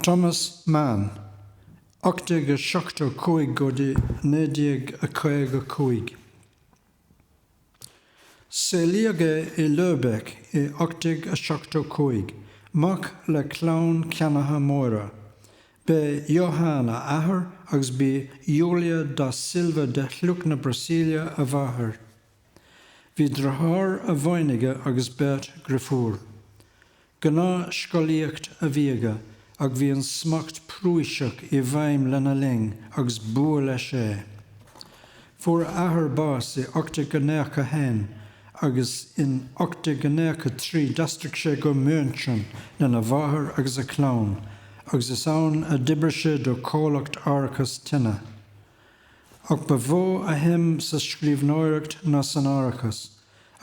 Thomas Mann, 1875 go dtí 1955. Saolaíodh é i Lübeck i 1875, mac le clann ceannaithe móra. B'é Johann a athair agus b'í Julia da Silva de shliocht na Brasaíle a mháthair. Bhí driotháir amháin aige agus beirt dhriofúr. Gnáth scolaíocht a bhí aige ach bhí an smacht Prúiseach i bhfeidhm lena linn agus b'fhuath leis é. Fuair a athair bás i 1891 agus in 1893 d'aistrigh sé go München lena mháthair agus a chlann agus is ann a d'oibrigh sé do comhlacht árachas tine. Ach ba mhó a shuim sa scríbhneoireacht ná san árachas,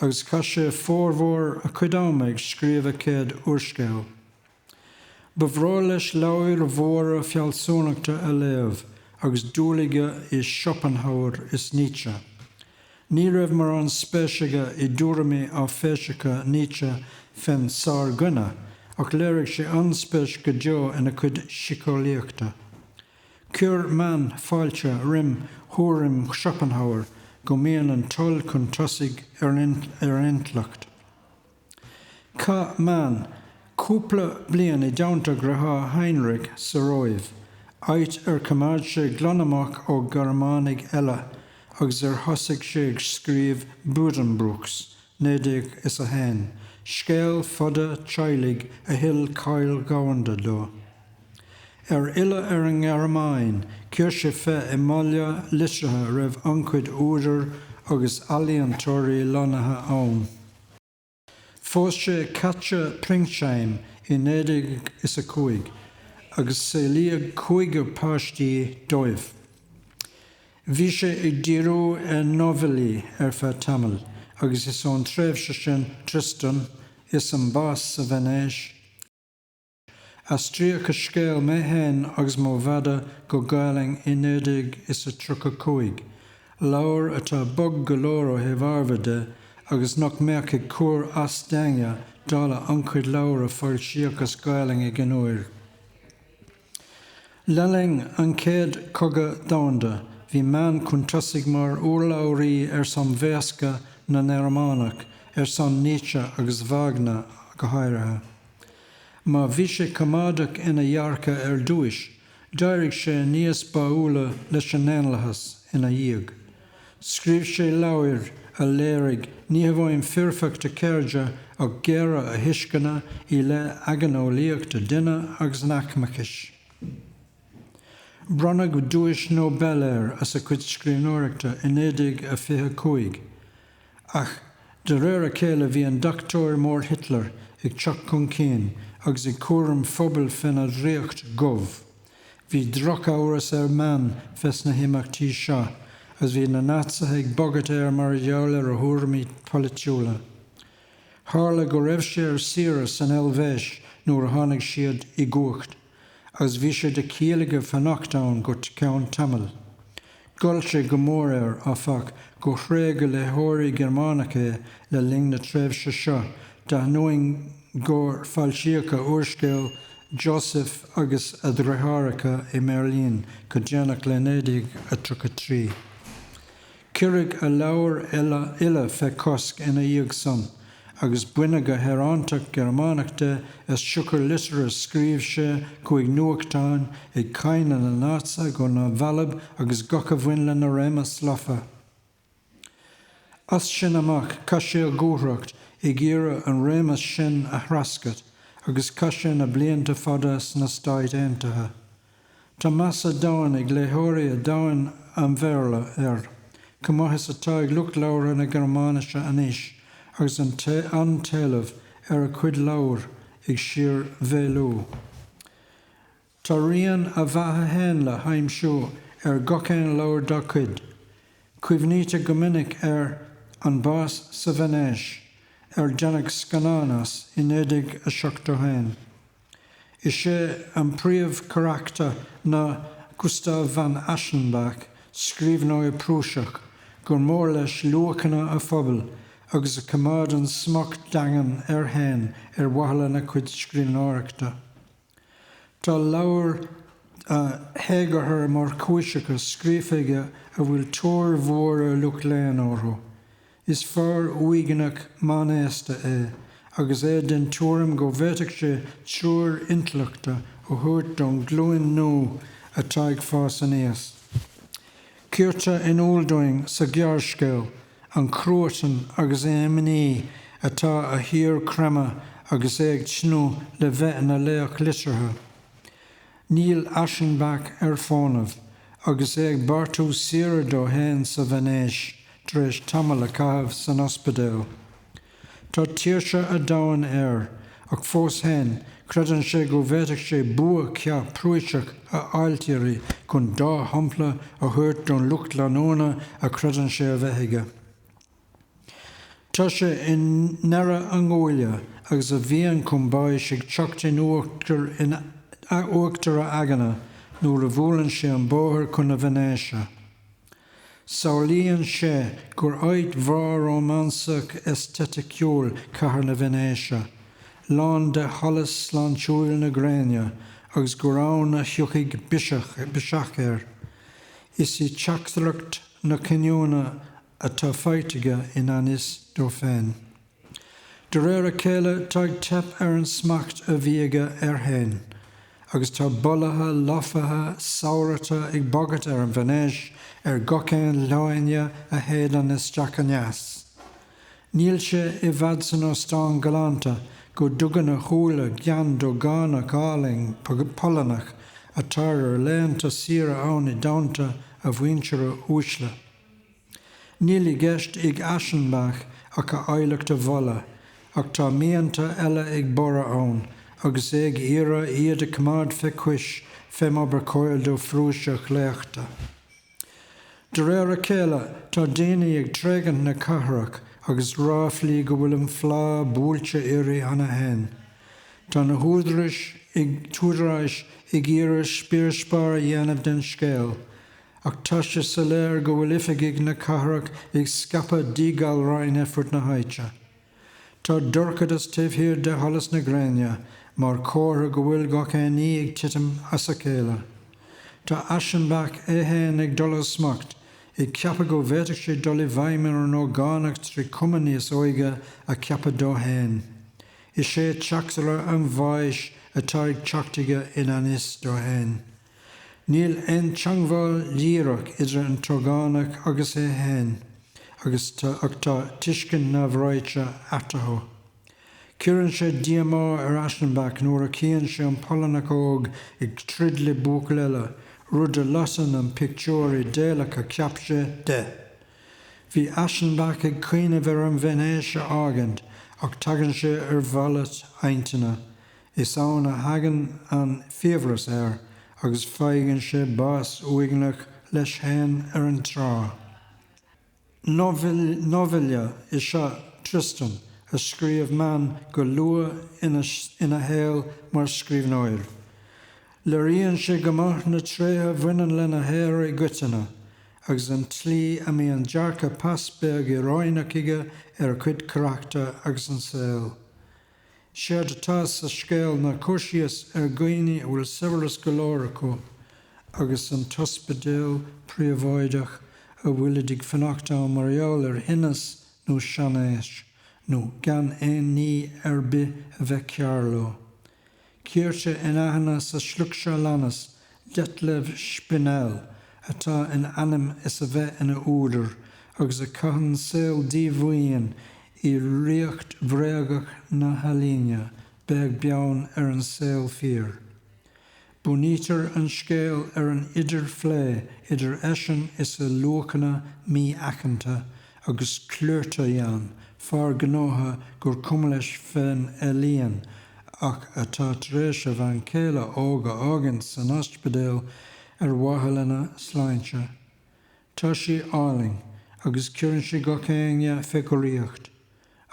agus chaith sé formhór a chuid ama ag scríobh a chéad úrscéil. Ba bhreá leis leabhair mhóra fealsúnachta a léamh agus dúil aige i Schopenhauer is Nietzsche. Ní raibh mórán spéis aige i dtuairimí áiféiseacha Nietzsche fén sár-dhuine, ach léirigh sé an-spéis go deo ina chuid síceolaíochta. Chuir Mann fáilte roim thuairim Schopenhauer go mbíonn an toil chun tosaigh ar an intleacht. Chaith Mann cúpla bliain i dteannta a dhriothár Heinrich sa Róimh, áit ar choimeád sé glan amach ó Ghearmánaigh eile agus ar thosaigh sé ag scríobh Buddenbrooks, naoidéag is a haon, scéal fada teaghlaigh a thuill cáil dhomhanda do. Ar fhilleadh ar an nGearmáin, chuir sé fé i mbaile liteartha a raibh an-chuid údar agus ealaíontóirí lonnaithe ann. Phós sé Katja Pringsheim i naoidéag is a cúig agus saolaíodh cúigear páistí dóibh. Bhí sé ag díriú ar nóibhillí ar feadh tamaill agus is ón tréimhse sin Tristan is an Bás sa Veinéis. Aistríodh a scéal Mé Féin agus Mo Mhadadh go Gaolainn i naoi déag is a tríocha cúig, leabhar atá bog go leor ó thaobh ábhair de agus nach mbeadh ag cur as d'éinne dála an-chuid leabhar a foilsíodh as Gaolainn ag an uair. Le linn an Chéad Chogadh Domhanda, bhí Mann chun tosaigh mar urlabhraí ar son bhéascna na nGearmánach, ar son Nietzsche agus Wagner go háirithe. Má bhí sé coimeádach ina dhearcadh ar dtúis, d'éirigh sé níos báúla leis an ndaonlathas ina dhiaidh. Scríobh sé leabhair a léirigh ní hamháin foirfeacht a cheirde ach géire a thuisceana i leith aigneolaíocht an duine agus an aicmeachais. Bronnadh Duais Nobel air as a chuid scríbhneoireachta i 1925, ach de réir a chéile bhí an deachtóir mór Hitler ag teacht chun cinn agus ag cur an phobail féna dhraíocht dhubh. Bhí drochamhras ar Mann fés na himeachtaí seo agus bhí na Naitsithe ag bagairt air mar gheall ar a thuairimí polaitiúla. Tharla go raibh sé ar saoire san Eilvéis nuair a tháinig siad i gcumhacht agus bhí sé de chiall aige fanacht ann go ceann tamaill. Ghoill sé go mór air, áfach, gur thréig a léitheoirí Gearmánacha é le linn na tréimhse seo, d'ainneoin gur foilsíodh a úrscéal Joseph agus a Dheartháireacha i mBeirlín go déanach le 1933. Cuireadh a leabhair uile fé chosc ina dhiaidh san. agus baineadh a shaoránacht Ghearmánach de as siocair litir a scríobh sé chuig nuachtán ag cáineadh na Naitseach go neamhbhalbh agus gach a bhain lena réimeas lofa. As sin amach chaith sé a dhúthracht ag iarraidh an réimeas sin a threascairt agus chaith sé na blianta fada sna Stáit Aontaithe. Tá meas domhain ag léitheoirí dhomhan an Bhéarla air, chomh maith is atá ag lucht labhartha na Gearmáinise anois agus an t-éileamh ar a chuid leabhar ag síormhéadú. Tá rian a bheatha féin le haimsiú ar gach aon leabhar dá chuid. Cuimhnítear go minic ar An Bás sa Veinéis, ar deineadh scannán as i 1971. Is é an príomhcharachtar ná Gustav von Aschenbach, scríbhneoir Prúiseach gur mór leis luachanna a phobail agus a choimeádann smacht daingean air féin ar mhaithe lena chuid scríbhneoireachta. Tá leabhair théagartha mórchúiseacha scríofa aige a bhfuil tóir mhór ag lucht léinn orthu. Is fear uaigneach meánaosta é agus é den tuairim go bhféadfadh sé treoir intleachta a thabhairt don ghlúin nua atá ag fás aníos. Cuirtear in iúl dúinn sa ghearrscéal an cruatan agus an imní atá á shíorchreimeadh agus é ag tnúth le bheith ina laoch liteartha. Níl Aschenbach ar fónamh agus é ag beartú saoire dó féin sa Veinéis tar éis tamall a chaitheamh san ospidéal. Tá tuirse an domhain air ach fós féin creideann sé go bhféadfadh sé bua ceart Prúiseach a ailtirí chun dea-shampla a thabhairt don lucht leanúna a chreideann sé a bheith aige. Tá sé i ndeireadh a nguaille agus a mhian chun báis ag teacht in in uachtar a aigne nuair a bhuaileann sé an bóthar chun na Veinéise. Samhlaíonn sé gur áit bhreá rómánsach aeistéiticiúil cathair na Veinéise, lán de sholas sláintiúil na gréine, agus gur ann a thiocfaidh biseach air. Is í teachtaireacht na cinniúna atá faighte aige i ngan fhios dó féin. De réir a chéile tá ag teip ar an smacht a bhí aige air fhéin agus tá bolaithe lofaithe samhrata ag bagairt ar an Veinéis ar gach aon leoithne a shéideann isteach aneas. Níl sé i bhfad san óstán galánta go dtugann a shúile gean d'ógánach álainn Polannach atá ar a laethanta saoire ann i dteannta a mhuintire uaisle. Níl i gceist ag Aschenbach ach a áilleacht a mholadh, ach tá mianta eile ag borradh ann agus é ag iarraidh iad a choimeád fé chois fé mar ba chóir do Phrúiseach a chleachtadh. De réir a chéile, tá daoine ag tréigint na cathrach agus ráflaí go bhfuil an phlá buailte uirthi cheana féin. Tá na húdaráis ag húdaráis ag iarraidh spior spear a dhéanamh den scéal, ach tá sé soiléir go bhfuil oifigigh na cathrach ag scaipeadh díghalráin ar fud na háite. Tá dorchadas taobh thiar de sholas na gréine mar chomhartha go bhfuil gach aon ní ag titim as a chéile. Tá Aschenbach é féin ag dul ó smacht, ag ceapadh go bhféadfadh sé dul i bhfeidhm ar an ógánach trí chuma níos óige a cheapadh dó féin. Is é teachtaire an bháis atá ag teacht chuige i ngan fhios dó féin. Níl aon teangmháil dhíreach idir an t-ógánach agus é féin agus ach tá tuiscint neamhráite eatarthu. Cuireann sé díomá ar Aschenbach nuair a chíonn sé an Polannach óg ag troid le buachaill eile, rud a loiteann an pictiúr idéalach a cheap sé de. Bhí Aschenbach ag cuimhneamh ar an Veinéis a fhágaint ach tagann sé ar mhalairt intinne Is ann a thagann an fiabhras air agus faigheann sé bás uaigneach leis fhéin ar an trá. Nóibhille is ea Tristan a scríobh Mann go luath ina shaol mar scríbhneoir. Léiríonn sé go maith na tréithe a bhaineann lena shaothar i gcoitinne agus an tslí a mbíonn dearcadh pas beag íoróineach aige ar a chuid carachtar agus an saol. Séard atá sa scéal ná cur síos ar dhaoine a bhfuil saibhreas go leor acu agus an t-ospidéal príobháideach a bhfuilid ag fanacht ann mar gheall ar thinneas nó seanaois nó gan aon ní ar bith a bheith cearr leo. Cuirtear in aithne sa sliocht seo a leanas Detlev Spinell, atá in ainm is a bheith ina údar agus a chaitheann saol díomhaoin i ríocht bhréagach na healaíne, beag beann ar an saol fíor. Bunaítear an scéal ar an idirphlé idir eisean is a luachanna mí-aiceanta, agus Klöterjahn, fear gnótha gur cuma leis fén ealaíon ach atá tar éis a bhean chéile óg a fhágaint san ospidéal ar mhaithe lena sláinte. Tá sí álainn, agus cuireann sí gach éinne fé dhraíocht.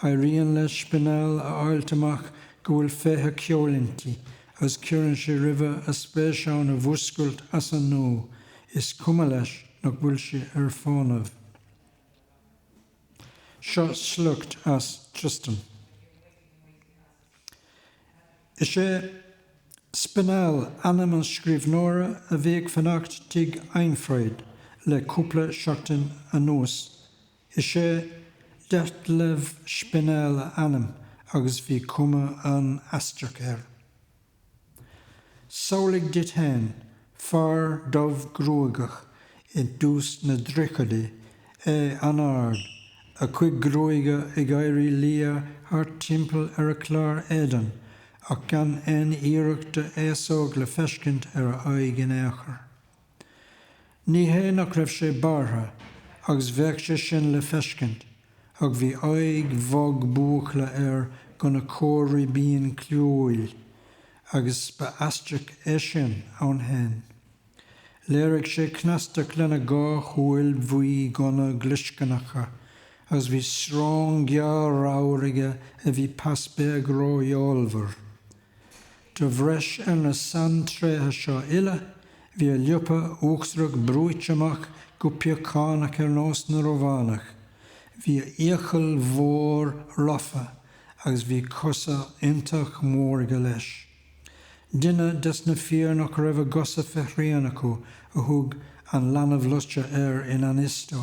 Éiríonn le Spinell a fháilt amach go bhfuil féith an cheoil inti agus cuireann sé roimhe a spéis ann a mhúscailt as an nua, is cuma leis nach bhfuil sí ar fónamh. Seo sliocht as Tristan. Is é Spinell ainm an scríbhneora a bhí ag fanacht tigh Einfried le cúpla seachtain anuas. Is é Detlev Spinell a ainm agus bhí cuma an-aisteach air. Samhlaigh duit fhéin, fear dubh gruaigeach i dtús na dtríochaidí, é an-ard, a chuid gruaige ag éirí liath thart timpeall ar a chlár éadain ach gan aon iarracht de fhéasóg le feiscint ar a aghaidh in aon chor. Ní hé nach raibh sé bearrtha agus bheadh sé sin le feiscint ach bhí aghaidh bhog buachalla air gona corr-ribín clúmhúil agus ba aisteach é sin ann féin. Léirigh sé cneastacht lena dhá shúil bhuídhonna ghlioscarnacha agus bhí srón gearr ramhar aige a bhí pas beag rófheolmhar De bhreis ar na saintréithe seo uile, bhí a liopa uachtarach brúite amach go piochánach ar nós na Rómhánach, bhí a fhiacail mhór lofa agus bhí cosa iontach mór aige leis. Duine des na fir nach raibh a gcosa fé shrian acu a thug An Leanbh Loite air i ngan fhios dó.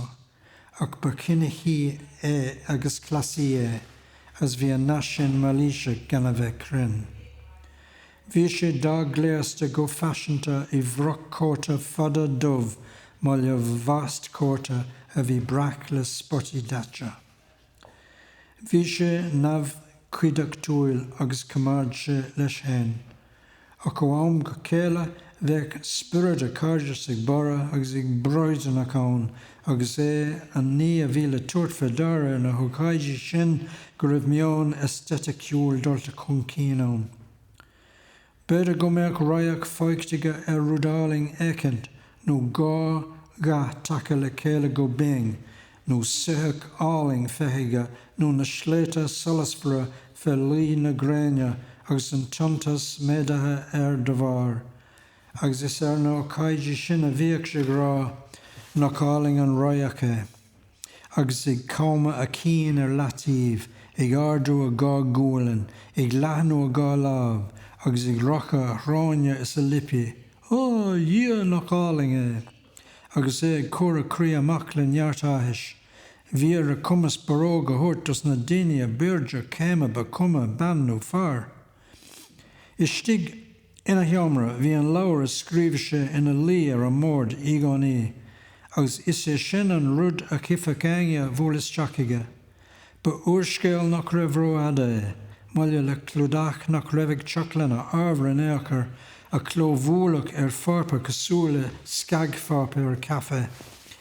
ach ba chinicí é agus cleasaí é is bhí an nath sin mailíseach gan a bheith cruinn. Bhí sé dea-ghléasta go faiseanta i bhfroc cóta fada dubh maille le vástcóta a bhí breac le spotaí daite. Bhí sé neamhchuideachtúil agus choimeád sé leis fhéin, ach ó am go chéile bheadh spiorad an chairdeasa ag borradh agus ag broidearnach ann agus é an ní a bhí le tabhairt fé ndeara ar na hócáidí sin go raibh meon aesteiticiúil dulta chun cinn ann. B'fhéidir go mbeadh radharc fachta aige ar rud álainn éicint nó dhá dhath tagtha le chéile go binn, nó soitheach álainn feicthe aige nó na sléibhte solasmhara fé luí na gréine agus an t-iontas méadaithe air da bharr. Agus is ar na hócáidí sin a bhíodh sé ag rá, Nach álainn an radharc é! agus ag camadh a chinn ar leataobh, ag ardú a dhá ghualainn, ag leathnú a dhá láimh, agus ag rocadh a shróine is a liopaí. Á, a Dhia, nach álainn é! agus é ag cur a chroí amach le neart áthais. Bhí ar a chumas barróg a thabhairt dos na daoine ab airde céime ba chuma bean nó fear istigh. Ina sheomra bhí an leabhar a scríobh sé ina luí ar an mbord i gcónaí agus is é sin an rud a chífeadh éinne a bhuail isteach chuige. Ba úrscéal nach raibh rófhada é, maille le clúdach nach raibh ag teacht lena ábhar in aon chor, a clóbhualadh ar pháipéar cosúil le scagpháipéar caife,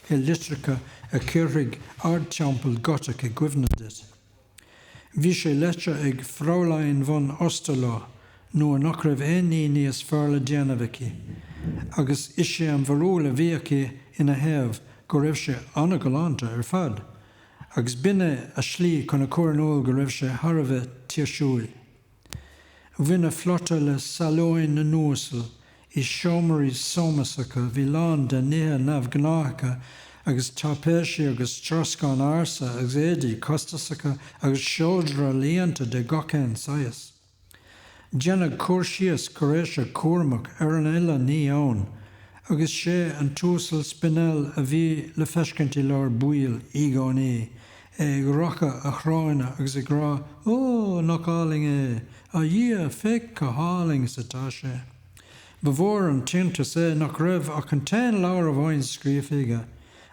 i litreacha a chuirfeadh Ardteampall Gotach i gcuimhne duit. Bhí sé léite ag Fräulein von Osterloh nuair nach raibh aon ní níos fearr le déanamh aici, agus is é an bharúil a bhí aici ina thaobh go raibh sé an-ghalánta ar fad, agus b'in é a slí chun a chur in iúl go raibh sé thar a bheith tuirsiúil. Bhain a phlota le salóin na n-uasal i seomraí sómasacha a bhí lán de nithe neamhghnáthacha agus taipéisí agus troscán ársa agus éadaí costasacha agus seodra ealaíonta de gach aon saghas. Déanadh cur síos cuiréiseach cúramach ar an uile ní ann agus sé an tUasal Spinell a bhí le feiscint i lár baill i gcónaí ag rocadh a shróine agus ag rá Ó, nach álainn é! A Dhia, féach chomh hálainn is atá sé! Ba mhór an t-iontas é nach raibh ach an t-aon leabhar amháin scríofa aige,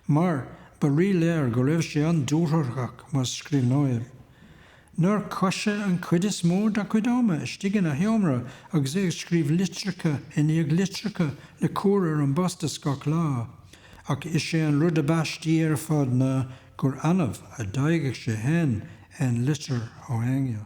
mar ba rí-léir go raibh sé an-dúthrachach mar scríbhneoir. Nár chaith sé an chuid is mó dá chuid ama istigh ina sheomra agus é ag scríobh litreacha i ndiaidh litreacha le cur ar an bpost is gach lá, ach is é an rud ab aistí ar fad ná gur annamh a d'fhaigheadh sé féin aon litir ó éinne.